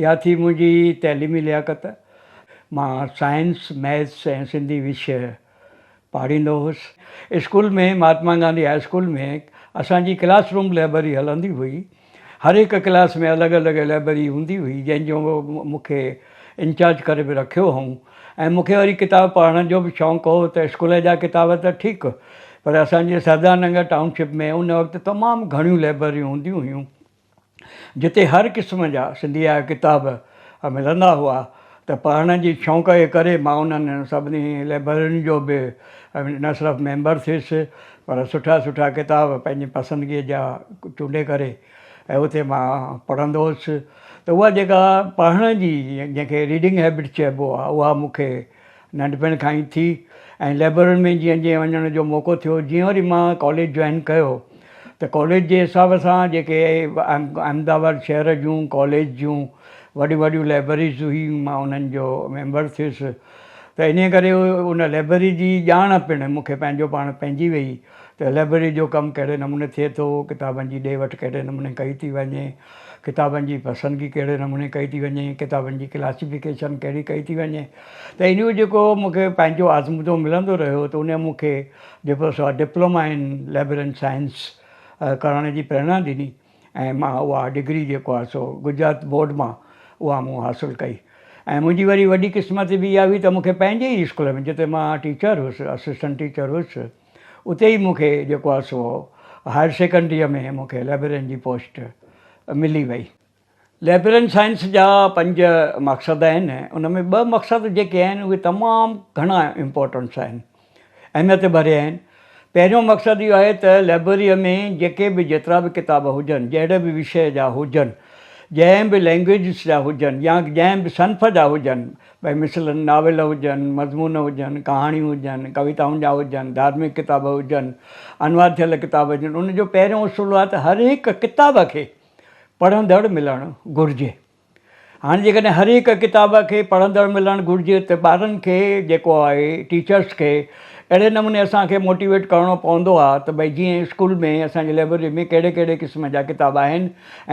اها ٿي منهنجي تعليمي لياقت. مان سائنس، ميٿس ۽ سنڌي وشيه پاڙهيندو هوس. School ۾ Mahatma Gandhi high school ۾ اسان جي ڪلاس روم لئبرري هلندي هئي. هر هڪ ڪلاس ۾ الڳ الڳ لئبرري هوندي هئي جنهن جو مون کي انچارج ڪري به رکيو هئون ۽ مون کي وري ڪتاب پڙهڻ جو به شوق هو ته اسڪول جا ڪتاب ته ٺيڪ پر اسان جي سردار ننگر ٽائون شپ ۾ ان وقت تمام گهڻيون لئبرريون هونديون هيون. جتي هر قسم جا سنڌيء جا ڪتاب ملندا هئا ته پڙهڻ جي شوق جي ڪري مان انهن سڀني لئبررين جو به نه صرف ميمبر ٿيس پر سٺا سٺا ڪتاب پنهنجي پسندگيء جا چونڊي ڪري ۽ اتي مان پڙهندو هوس ته اها جيڪا پڙهڻ جي جنهن کي ريڊنگ هيبٽ چئبو آهي اها مون کي ننڍپڻ کان ئي ٿي ۽ لئبررين ۾ جيئن جيئن وڃڻ جو موقعو ٿيو جيئن وري مان ڪاليج جوائن ڪيو ته ڪاليج جي حساب سان جيڪي احمد آباد شهر جون ڪاليج جون وڏيون وڏيون لئبرريز هيون مان انهن جو ميمبر ٿيس ته انهي ڪري ان لئبرري جي ڄاڻ پڻ مون کي پنهنجو پاڻ پئجي وئي ته لئبرري جو ڪم ڪهڙي نموني ٿئي ٿو، ڪتابن جي ڏي وٺ ڪهڙي نموني ڪئي ٿي وڃي، ڪتابن جي پسندگي ڪهڙي نموني ڪئي ٿي وڃي، ڪتابن جي ڪلاسيفڪيشن ڪهڙي ڪئي ٿي وڃي ته ان جو جيڪو مون کي پنهنجو آزمودو ملندو رهيو ته ان مون کي جيڪو سو ڊپلوما ان لئبررين سائنس ڪرڻ جي پريرنا ڏني. ۽ مان اها ڊگري جيڪو آهي سو گجرات بورڊ مان اها مون حاصل ڪئي ۽ منهنجي وري وڏي قسمت به اها هئي ته مونکي پنهنجي ئي اسڪول ۾ جتي مان ٽيچر هيس اسسٽنٽ ٽيچر هيس اتي ئي مونکي جيڪو آهي سو هائير سيڪنڊريء ۾ مونکي لائبريرين جي پوسٽ ملي وئي لائبررين سائنس جا پنج مقصد آهن ان ۾ ٻه مقصد جيڪي آهن اهي تمام گهڻا امپورٽنس آهن اهميت ڀريا آهن پهريون مقصد اهو آهي ته لائبرري ۾ جيڪي به جيترا به ڪتاب هجن جهڙي به وشيه جا هجن جنهن به لينگويجز جا هجن يا جنهن به صنف جا هجن ڀئي مثلاً ناول هجن مضمون هجن ڪهاڻيون هجن ڪويتائن جا هجن ڌارمڪ ڪتاب هجن انوار ٿيل ڪتاب هجن ان جو پهريون اصول آهي ته هر هڪ ڪتاب کي پڙهندڙ ملڻ گهرجي. هاڻي جيڪڏهن هر هڪ ڪتاب کي پڙهندڙ ملڻ گهرجي ته ٻارن کي جيڪو آهي ٽيچرس کي اهڙي نموني اسان کي موٽيويٽ ڪرڻو پوندو آهي ته ڀئي جيئن اسڪول ۾ اسان جي لئبرري ۾ ڪهڙي ڪهڙي قسم جا ڪتاب آهن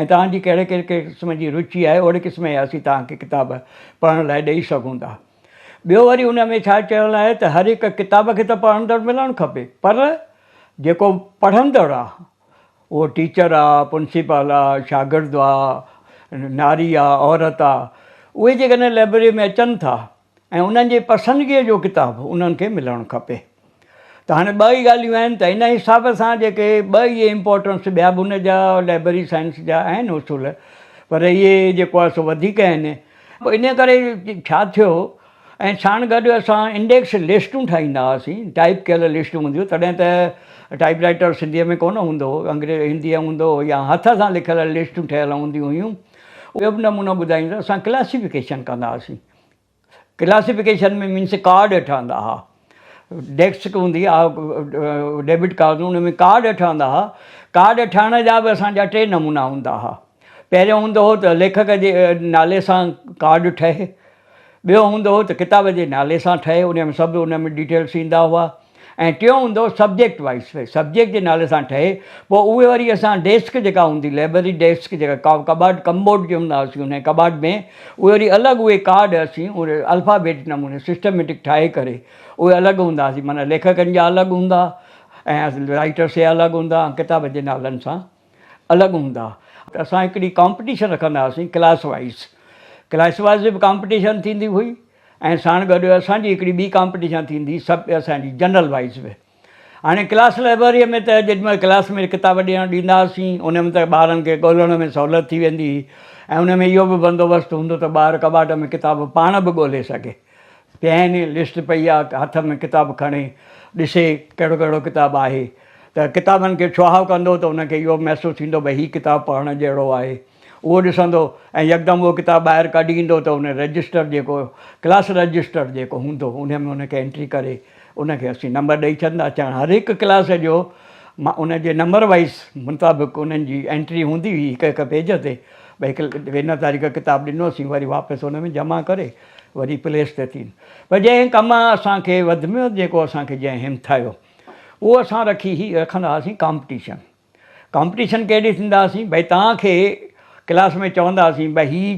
۽ توهان جي ڪهڙي ڪهڙي قسم جي روچي آهي اهڙي قسم جا اسين توهان کي ڪتاب پڙهڻ لاء ڏئي سگهون ٿا. ٻيو وري ان ۾ ڇا چيل آهي ته هر هڪ ڪتاب کي ته پڙهندڙ ملڻ کپي پر جيڪو پڙهندڙ آهي اهو ٽيچر آ، پرنسپال آ، شاگرد آ، ناري آ، عورت آ، اهي جيڪڏهن لئبرريء ۾ اچن ٿا ۽ انهن جي پسندگيء جو ڪتاب انهن کي ملڻ کپي. ته هاڻي ٻه ئي ڳالهيون آهن ته ان حساب سان جيڪي ٻه اهي امپارٽنس ٻيا به ان جا لئبرري سائنس جا آهن اصول پر اهي جيڪو آ سو وڌيڪ آهن. پوء انهيء ڪري ڇا ٿيو؟ ۽ ساڻ گڏ اسان انڊيڪس لسٽون ٺاهيندا هئاسين، ٽائيپ ڪيل لسٽون هونديون، تڏهن ته ٽائيپ رائيٽر سنڌيء ۾ ڪونه هوندو هو، انگريزي هنديء ۾ هوندو هو يا هٿ سان لکيل لسٽون ٺهيل هونديون هيون. ٻيو به نمونو ٻڌائين ته اسان ڪلاسيفڪيشن ڪندا هئاسين، ڪلاسيفڪيشن ۾ مينس ڪارڊ ٺهندا هئا، ڊيسڪ هوندي آ ڊيبٽ ڪارڊ جو ان ۾ ڪارڊ ٺهندا ها ڪارڊ ٺهڻ جا به اسان جا ٽي نمونا هوندا ها پهريون هوندو هو ته ليکڪ جي نالي سان ڪارڊ ٺهي ٻيو هوندو هو ته ڪتاب جي نالي سان ٺهي ان ۾ سڀ ان ۾ ڊيٽيلس ايندا هئا ۽ ٽيون هوندو سبجيڪٽ وائز سبجيڪٽ جي نالي سان ٺهي پوء اهي وري اسان ڊيسڪ جيڪا هوندي لائبرري ڊيسڪ جيڪا ڪباٽ ڪمبوٽ جي هوندا هئاسي ان ڪباٽ ۾ اهي وري الڳ اهي ڪارڊ اسين اهي الفابيٽ نموني سسٽميٽڪ ٺاهي ڪري اهي الڳ هونداسين معنيٰ ليکڪن جا الڳ هوندا ۽ رائيٽرس جا الڳ هوندا ۽ ڪتابن جي نالن سان الڳ هوندا ته اسان هڪڙي ڪامپٽيشن رکندا هئاسين ڪلاس وائيز ڪلاس وائيز به ڪامپٽيشن ٿيندي هئي ۽ ساڻ گڏ اسان جي هڪڙي ٻي ڪامپٽيشن ٿيندي سڀ اسان جي جنرل وائيز به هاڻي ڪلاس لئبرريء ۾ ته جيڏي مهل ڪلاس ۾ ڪتاب ڏيڻ ڏيندا هئاسين، ان ۾ ته ٻارن کي ڳولڻ ۾ سهولت ٿي ويندي هئي ۽ ان ۾ اهو به بندوبست هوندو ته ٻار ڪٻاٽ ۾ ڪتاب پاڻ به ڳولي سگهي. پين، لسٽ پئي آ، هٿ ۾ ڪتاب کڻي ڏسي ڪهڙو ڪهڙو ڪتاب آهي ته ڪتابن کي ڇهاء ڪندو ته ان کي اهو به محسوس ٿيندو ڀئي هي ڪتاب پڙهڻ جهڙو آهي. اهو ڏسندو ۽ يڪدم اهو ڪتاب ٻاهر ڪڍي ايندو ته ان رجسٽر جيڪو ڪلاس رجسٽر جيڪو هوندو انهيء ۾ ان کي انٽري ڪري ان کي اسين نمبر ڏئي ڇڏندا اچان هر هڪ ڪلاس جو مان ان جي نمبر وائيز مطابق انهن جي انٽري هوندي هئي هڪ هڪ پيج تي ڀئي هن تاريخ ڪتاب ڏنو اسين وري واپس ان ۾ جمع ڪري وري پليس تي ٿين پر جنهن ڪم اسان کي وڌ ۾ وڌ جيڪو اسان کي جنهن همٿايو اهو اسان رکي هي رکندا هئاسين ڪامپٽيشن ڪامپٽيشن ڪهڙي ٿيندا هئاسين ڀئي توهان کي ڪلاس ۾ چوندا هئاسين ڀئي هي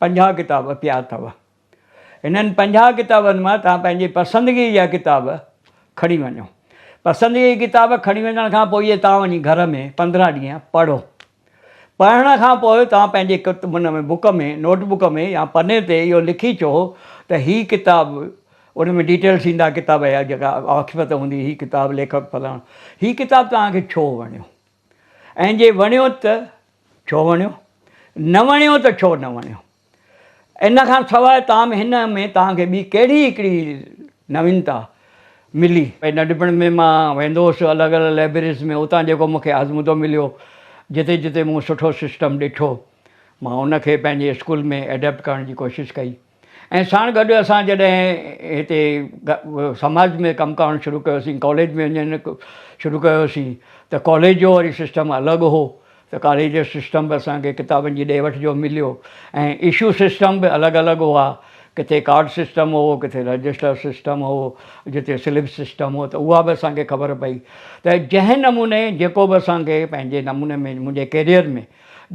پنجاهه ڪتاب پيا اٿو هنن پنجاهه ڪتابن مان توهان پنهنجي پسندگيء جا ڪتاب کڻي وڃو. پسندگيء جا ڪتاب کڻي وڃڻ کان پوء توهان وڃي گهر ۾ پندرهن ڏينهن پڙهو. پڙهڻ کان پوء توهان پنهنجي ان ۾ بڪ ۾ نوٽ بڪ ۾ يا پني تي اهو لکي چئو ته هي ڪتاب ان ۾ ڊيٽيلز ايندا ڪتاب جا جيڪا آکپت هوندي هي ڪتاب ليکڪ فلاڻو هي ڪتاب توهان کي ڇو وڻيو ۽ جي وڻيو ته ڇو وڻيو نه وڻيو ته ڇو نه وڻيو. ان کان سواء تاهم هن ۾ توهان کي ٻي ڪهڙي هڪڙي نوينتا ملي؟ ننڍپڻ ۾ مان ويندو هوس الڳ الڳ لئبريريز ۾ اتان جيڪو مون کي آزمودو مليو جتي جتي مون سٺو سسٽم ڏٺو مان ان کي پنهنجي اسڪول ۾ ايڊپٽ ڪرڻ جي ڪوشش ڪئي ۽ ساڻ گڏ اسان جڏهن هتي سماج ۾ ڪم ڪرڻ شروع ڪيوسين ڪاليج ۾ وڃڻ شروع ڪيوسين ته ڪاليج جو وري سسٽم الڳ هو ته ڪاليج جو سسٽم به اسان کي ڪتابن جي ڏي وٺ جو مليو ۽ اشو سسٽم به الڳ الڳ هئا ڪٿي ڪارڊ سسٽم هو ڪٿي رجسٽر سسٽم هو جتي سلپ سسٽم هو ته اها به اسان کي خبر پئي ته جنهن نموني جيڪو به اسان کي پنهنجي نموني ۾ منهنجي ڪيريئر ۾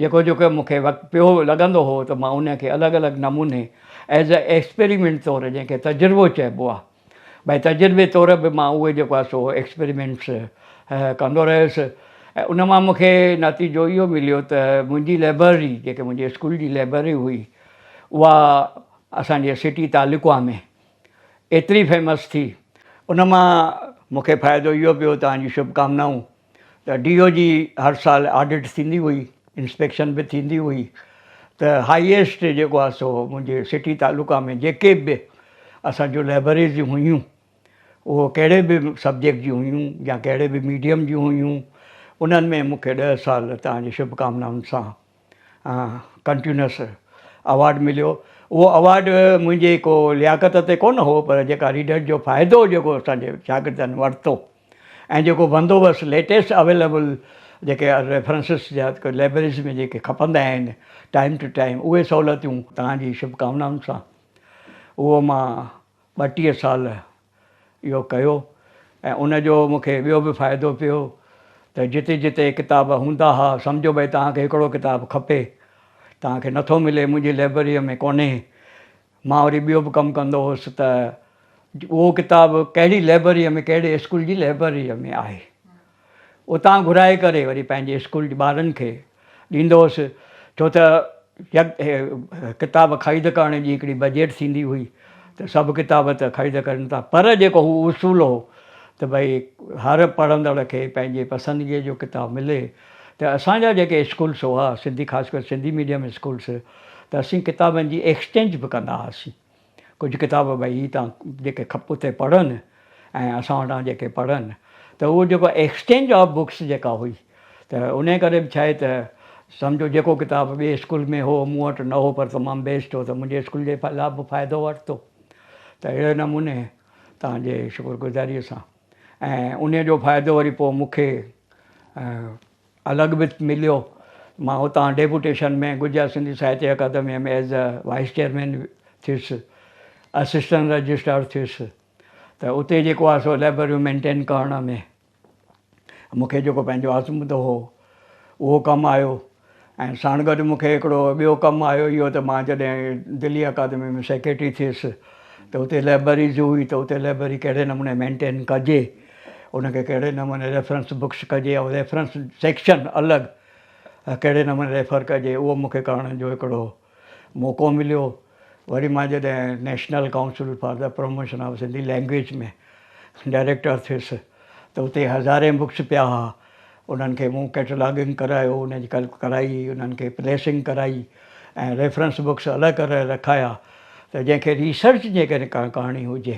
جيڪو جيڪو مون کي وقت پيو لڳندو هو ته مان ان کي الڳ الڳ نموني ايز اي ايڪسپريمينٽ طور جنهن کي تجربو چئبو آهي ڀاء تجربي طور به مان اهي جيڪو آهي سو ايڪسپريمينٽس ڪندو رهيس ۽ ان مان مونکي نتيجو اهو مليو ته منهنجي لئبرري جيڪي منهنجي اسڪول جي لئبرري هئي اها اسان جي سٽي تعلقه ۾ ايتري فيمس ٿي ان مان مونکي فائدو اهو پيو توهان جي شڀڪامنائون. ته ڊي او جي هر سال آڊٽ ٿيندي هئي انسپيڪشن به ٿيندي هئي ته هائيسٽ جيڪو آهي سو منهنجي سٽي تعلقا ۾ جيڪي به اسان جون لئبريز هيون اهو ڪهڙي به سبجيڪٽ جون هيون يا ڪهڙي به ميڊيم جون هيون انهن ۾ مونکي ڏهه سال تهان جي شڀ ڪامنائن سان ڪنٽينيوس اوارڊ مليو اهو اوارڊ منهنجي ڪو لياقت تي ڪونه هو پر جيڪا ريڊر جو فائدو جيڪو اسان جي شاگردن ورتو ۽ جيڪو بندوبست ليٽيسٽ اويليبل جيڪي ريفرنسز جا لائبريريز ۾ جيڪي کپندا آهن ٽائيم ٽو ٽائيم اهي سهولتيون توهان جي شڀڪامنائن سان اهو مان ٻٽيهه سال اهو ڪيو ۽ ان جو مون کي ٻيو به فائدو پيو ته جتي جتي ڪتاب هوندا ها سمجهو ڀئي توهان کي هڪڙو ڪتاب کپي توهان کي نٿو ملي منهنجي لئبرريء ۾ ڪونهي مان وري ٻيو به ڪم ڪندو هوس ته اهو ڪتاب ڪهڙي لئبرريء ۾ ڪهڙي اسڪول جي لئبرريء ۾ آهي اتان گهرائي ڪري وري پنهنجي اسڪول جي ٻارن کي ڏيندو هوس ڇو ته يڪ ڪتاب خريد ڪرڻ جي هڪڙي بجيٽ ٿيندي هئي ته سڀ ڪتاب ته خريد ڪرن ٿا پر جيڪو هو اصول هو ته ڀئي هر پڙهندڙ کي پنهنجي پسندگيء جو ڪتاب ملي ته اسان جا جيڪي اسڪولس هئا سنڌي خاص ڪري سنڌي ميڊيم اسڪولس ته اسين ڪتابن جي ايڪسچينج به ڪندا هئاسين. ڪجهه ڪتاب ڀئي هي تان جيڪي کپ اتي پڙهن ۽ اسان وٽان جيڪي پڙهن ته اهو جيڪو ايڪسچينج آف بڪس جيڪا هئي ته انهي ڪري به ڇاهي ته سمجهو جيڪو ڪتاب ٻي اسڪول ۾ هو مون وٽ نه هو پر تمام بيسٽ هو ته منهنجي اسڪول جي لا به فائدو ورتو ته اهڙي نموني تان جي شڪر گذاري سان ۽ انهي جو فائدو وري پوء مون کي الڳ به مليو. مان هتان ڊيپوٽيشن ۾ گجرات سنڌي ساهتيه اڪادميء ۾ ايز اي وائيس چيئرمين ٿيس. اسسٽنٽ رجسٽرار ٿيس ته اتي جيڪو آهي سو لئبرريون مينٽين ڪرڻ ۾ مون کي جيڪو پنهنجو آزمودو هو اهو ڪم آيو ۽ ساڻ گڏ مون کي هڪڙو ٻيو ڪم آيو اهو ته مان جڏهن دلي اڪادميء ۾ سيڪريٽري ٿيس ته اتي لئبرري جي هئي ته اتي لئبرري ڪهڙي نموني مينٽين ڪجي. ان کي ڪهڙي نموني ريفرنس بڪس ڪجي يا ريفرنس سيڪشن الڳ ڪهڙي نموني ريفر ڪجي اهو مون کي ڪرڻ جو هڪڙو موقعو مليو وري مان جڏهن national council for the promotion of Sindhi language ۾ director ٿيس ته اتي هزارين بڪس پيا ها انهن کي مون ڪيٽلاگنگ ڪرايو ان جي ڪلپ ڪرائي انهن کي پريسنگ ڪرائي ۽ ريفرنس بڪس الڳ ڪري رکايا ته جنهن کي ريسرچ جي ڪري ڪا ڪهاڻي هجي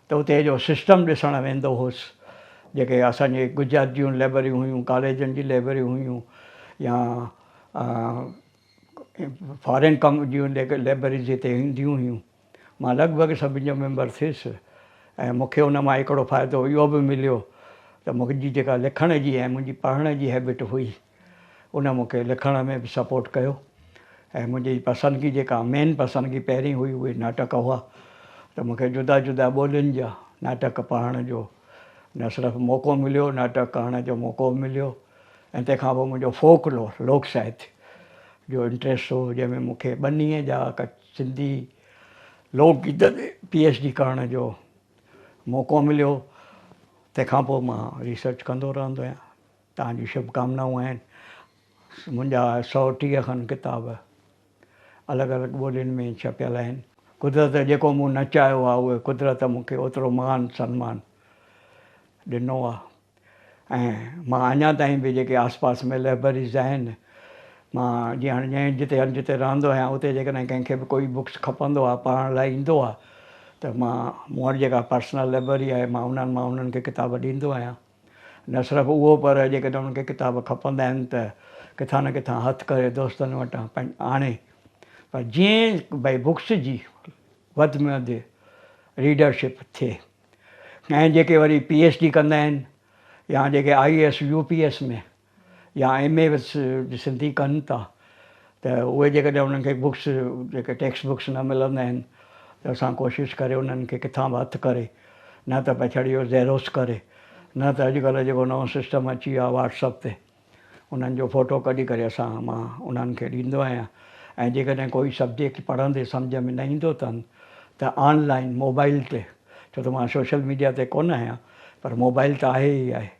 ته اتي جو سسٽم ڏسڻ ويندو هوس، جيڪي اسان جي گجرات جون لئبرريون هيون، ڪاليجن جي لئبرريون هيون يا فارين ڪم جون جيڪي لئبرريز هتي هونديون هيون، مان لڳ ڀڳ سڀني جو ميمبر ٿيس ۽ مون کي ان مان هڪڙو فائدو اهو به مليو ته منهنجي جيڪا لکڻ جي ۽ منهنجي پڙهڻ جي هيبٽ هئي، ان مون کي لکڻ ۾ به سپورٽ ڪيو ۽ منهنجي پسندگي جيڪا مين پسندگي پهرين هئي اهي ناٽڪ هئا ته مون کي جدا جدا ٻولين جا ناٽڪ پڙهڻ جو نه صرف موقعو مليو ناٽڪ ڪرڻ جو موقعو به مليو ۽ تنهن کان پوء منهنجو فوڪ لور لوڪ ساهتيه جو انٽريسٽ هو جنهن ۾ مون کي ٻنيء جا سنڌي لوڪ گيت تي پي ايڇ ڊي ڪرڻ جو موقعو مليو تنهن کان پوء مان ريسرچ ڪندو رهندو آهيان توهان جون شڀ ڪامنائون آهن. منهنجا سؤ ٽيهه کن ڪتاب الڳ الڳ ٻولين ۾ ڇپيل آهن. قدرت جيڪو مون نه چاهيو آهي اهي قدرت مون کي اوترو مان سنمان ڏنو آهي ۽ مان اڃا تائين به جيڪي آس پاس ۾ لئبرريز آهن مان جي هاڻي جنهن جتي هنڌ جتي رهندو آهيان اتي جيڪڏهن ڪنهن کي به ڪوئي بڪس کپندو آهي پڙهڻ لاء ايندو آهي ته مان مون وٽ جيڪا پرسنل لئبرري آهي مان انهن مان انهن کي ڪتاب ڏيندو آهيان. نه صرف اهو پر جيڪڏهن انهن کي ڪتاب کپندا آهن ته ڪٿان نه ڪٿان هٿ ڪري دوستن وٽان آڻي پر جيئن بئي بڪس جي وڌ ۾ وڌ ريڊر شپ ٿئي ۽ جيڪي وري پي ايڇ ڊي ڪندا آهن يا جيڪي I A S U P S ۾ يا ايم اي وٿ سنڌي ڪن ٿا ته اهي جيڪڏهن انهن کي بڪس جيڪي ٽيڪسٽ بڪس نه ملندا آهن ته اسان ڪوشش ڪري انهن کي ڪٿان به هٿ ڪري نه ته پئي ڇڙي اهو زيروس ڪري نه ته اڄڪلهه جيڪو نئون سسٽم اچي ويو آهي واٽس اپ تي انهن جو فوٽو ڪڍي ڪري اسان مان انهن کي ڏيندو آهيان ۽ جيڪڏهن ڪوئي سبجيڪٽ پڙهندي سمجهه ۾ نه ايندو اٿن ته آن لائين موبائل تي ڇو ته مان سوشل ميڊيا تي ڪونه آهيان پر موبائل ته آهي ئي آهي.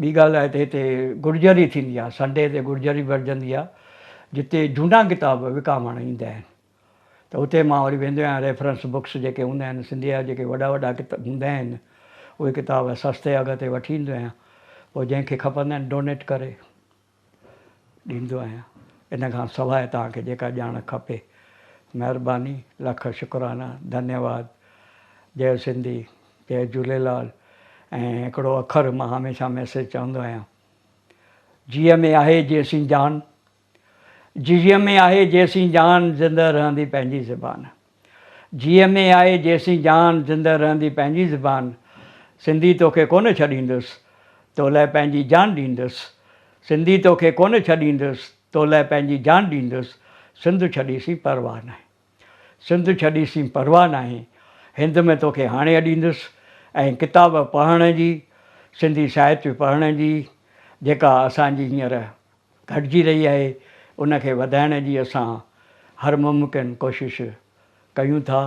ٻي ڳالهه آهي ته هتي گڙجري ٿيندي آهي، سنڊي تي گڙجري ورجهندي آهي، جتي جهونڊا ڪتاب وڪامڻ ايندا آهن ته اتي مان وري ويندو آهيان، ريفرنس بڪس جيڪي هوندا آهن، سنڌيء جا جيڪي وڏا وڏا ڪتاب هوندا آهن، اهي ڪتاب سستي اگهه تي وٺي ايندو آهيان، پوء جنهن کي کپندا آهن ڊونيٽ ڪري. ڏيندو آهيان ان کان سواء توهان کي جيڪا ڄاڻ کپي مهرباني لک شڪرانا ڌنيواد جئه سنڌي جئه جهوليلال ۽ هڪڙو اکر مان هميشه ميسيج چوندو آهيان جيء ۾ آهي جيسين جان جيء ۾ آهي جيسين جان زنده رهندي پنهنجي زبان. جي ايم اي آهي جيسين جان زنده رهندي پنهنجي زبان سنڌي توکي ڪونه ڇڏيندس تو لئه پنهنجي جان ڏيندس سنڌي توکي ڪونه ڇڏيندس تو لئه پنهنجي جان ڏيندس سنڌ ڇڏي سين پرواهه ناهي سنڌ ڇڏي سين پرواهه ناهي هند ۾ توکي هاڻي اڏيندس ۽ ڪتاب پڙهڻ جي سنڌي ساهتيه پڙهڻ جي جيڪا اسان جي هينئر گهٽجي رهي آهي ان کي وڌائڻ جي اسان هر ممڪن ڪوشش ڪيون ٿا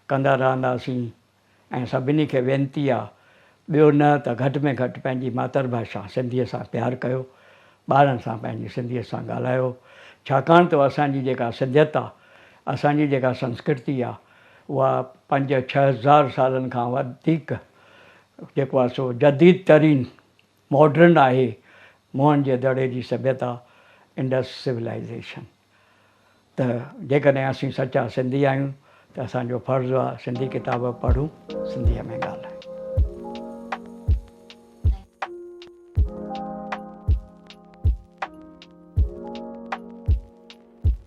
ڪندا رهنداسين ۽ سڀني کي وينتي آ ٻيو نه ته گهٽ ۾ گهٽ پنهنجي ماتر ڀاشا سنڌي سان پيار ڪيو ٻارن سان پنهنجي سنڌي سان ڳالهايو ڇاڪاڻ ته اسان جي جيڪا سنڌيت آ اسان جي جيڪا سنسڪرتي آ اها پنج ڇهه هزار سالن کان وڌيڪ جيڪو آ سو جديد ترين ماڊرن آهي موهن جي دڙي جي سڀيتا، انڊس سولائيزيشن. ته جيڪڏهن اسين سچا سنڌي آهيون ته اسان جو فرض آ سنڌي ڪتاب پڙهون سنڌيء ۾ ڳالهايون.